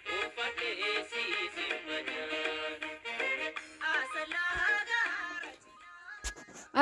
Uffadhee si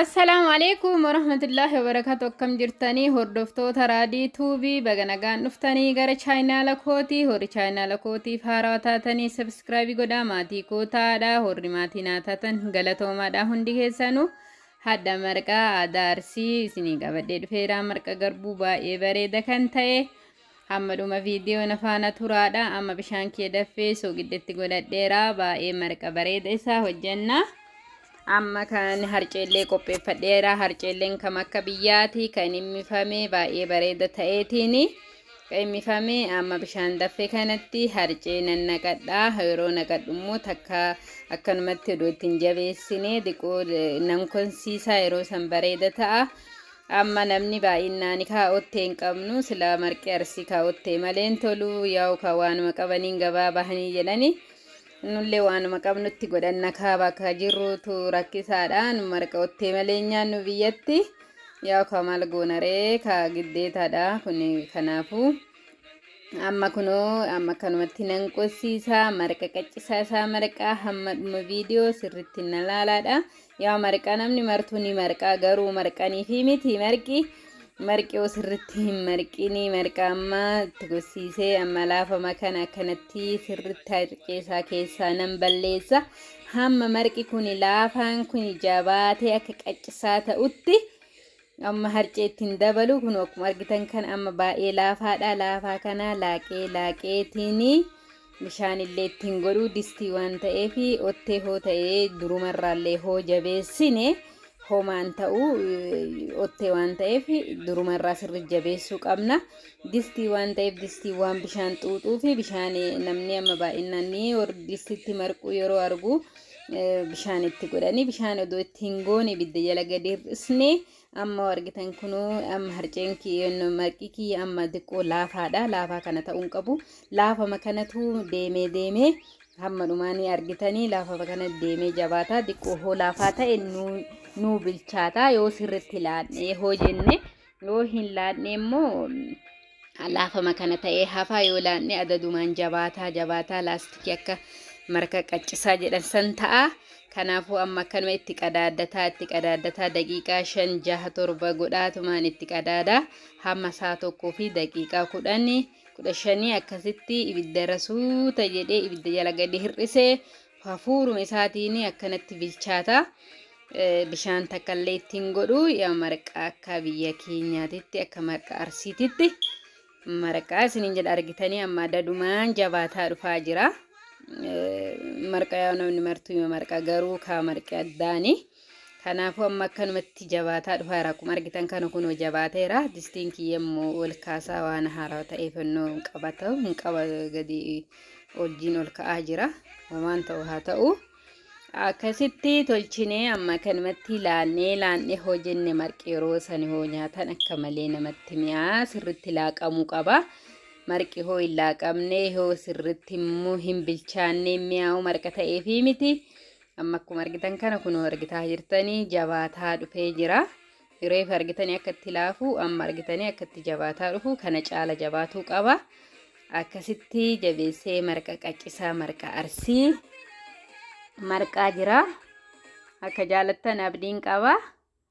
Assalaamu alaikum warahmatullahi wabarakatuh akkam jirtanii hordoftoota raadii tuubii baga nagaan dhuftanii gara chaayinaala kootii horri chaayinaala kootiif haarawaa taatanii sabskraabii godhaa maatii koo taadha horri maatii naa taatan galatoomaadha hundi keessanuu hadda marqaa aadaa arsii isinii qabadhee dhufeeraa marqa garbuu baay'ee bareeda kan ta'e Hamma dhuma viidiyoo na faana turaadha. Amma bishaan kee daffee sooqiddetti godhadheera. Baay'ee marqa bareeda isaa hojjenna. Amma kan harceellee qopheeffadheera. Harceelleen kam akka biyyaati kan immifame baay'ee bareeda ta'eetiin immifame amma bishaan daffee kanatti harcee nan naqadha. Yeroo naqadhu immoo takka akkanumatti odoo ittiin jabeessine diqoo nan konsiisa yeroo san bareeda ta'a. Amma namni baay'innaani kaa ottee hin qabnu silaa marqi arsii kaa ottee malee hin tolu yaa'u kaa waanuma qabaniin gabaa bahanii jedhani nullee waanuma qabnutti godhanna kaa bakka jirruutu rakkisaadha nu marqa ottee malee hin nyaannu biyyatti yaa'u kaa maal goona ree kaa giddeetaadha kun kanaafu amma kunoo amma akkanumatti nan qossiisaa marqa qaccisaa isaa marqaa hamma dhuma viidiyoo sirritti na laalaadha Yaa marqa namni martuu ni marqaa garuu marqaniifi miti marqi marqi osirritti hin marqini marqa amma itti gossiisee amma laafama kana akkanatti sirritti harceesaa keessaa nan balleessa hamma marqi kuni laafaan kuni jabaatee akka qaccisaa ta'utti Amma harcee itti hin dabalu. Kun akkuma argitan kana amma baay'ee laafaadha. Laafaa kana laaqee laaqeetiin bishaan illee itti hin godhu distii waan ta'eef ottee hoo ta'ee durumarraallee hoo jabeessine homaan ta'u ottee waan ta'eef durumarraa sirri jabeessuu qabna. Distii waan ta'eef distii waan bishaan xuuxuu fi bishaan namni amma baay'inaan distiitti marquu yeroo argu bishaan itti godhanii bishaan odoo itti hin goone ibidda jala gadi hir'isne amma argitan kunuu amma harceen maqii kiyya amma diqqoo laafaadha laafaa kana ta'uun qabu laafama kanatu deemee deemee hamma dhumaanii argitanii laafama kana deemee jabaataa diqqoo hoo laafaa ta'e nuu bilchaataa yoo sirritti laadhee hoo jenne Yoo hin laanne immoo laafama kana ta'ee hafaa yoo laanne adadumaan jabaataa jabaataa laastikii akka marka qaccisaa jedhan san ta'a. Kanaafuu amma akkanuma itti qadaaddataa itti qadaaddataa daqiiqaa shan jaha torba godhaatumaan itti qadaada hamma saa tokkoo fi daqiiqaa kudhanii kudha shanii akkasitti ibidda irra suuta jedhee ibidda jala gadi hir'isee Hafuuruma isaatiin akkanatti bilchaata. Bishaan takka illee itti hin godhu. Yaa marqaa akka biyya keenyaatitti akka marqaa arsiititti marqaa isiniin jedha argitanii amma dadumaan jabaataa dhufaa jira. Marqaa yoo namni martuu yoo marqaa garuu kaa marqee addaanii. Kanaafuu amma akkanumatti jabaataa dhufaa jira. Akkuma argitan kana kunoo jabaateera. Distiin kiyya immoo ol kaasaa waan haarawa ta'eef innoo hin qabatu hin qaba gadi oljiin ol ka'aa jira. Homaan ta'u haa ta'u. Akkasitti tolchinee amma kanumatti laannee laannee hoo jenne marqi yeroo sani hoo nyaatan akka malee namatti mi'aa sirritti laaqamuu qaba. Marqi hoo hin laaqamne hoo sirritti immoo hin bilchaanne mi'aawu marqa ta'eefii miti. amma akkuma argitan kana kunoo argitaa jirtanii jabaataa dhufee jira reefa argitanii akka itti laafu amma argitanii akka itti jabaataa dhufu kana caala jabaatuu qaba akkasitti jabeessee marqa qaccisaa marqa arsii marqaa jira akka jaalattan abdiin qaba.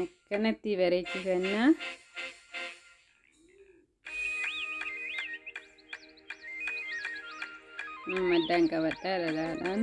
akkanatti bareechifannaa maddaan qabadhaa dhalaadhaan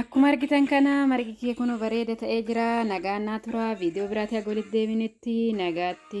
Akkuma argitan kana margi kee kun bareeda ta'ee jira. Nagaan naa tura. Viidiyoo biraatii haga walitti deebinutti nagaatti.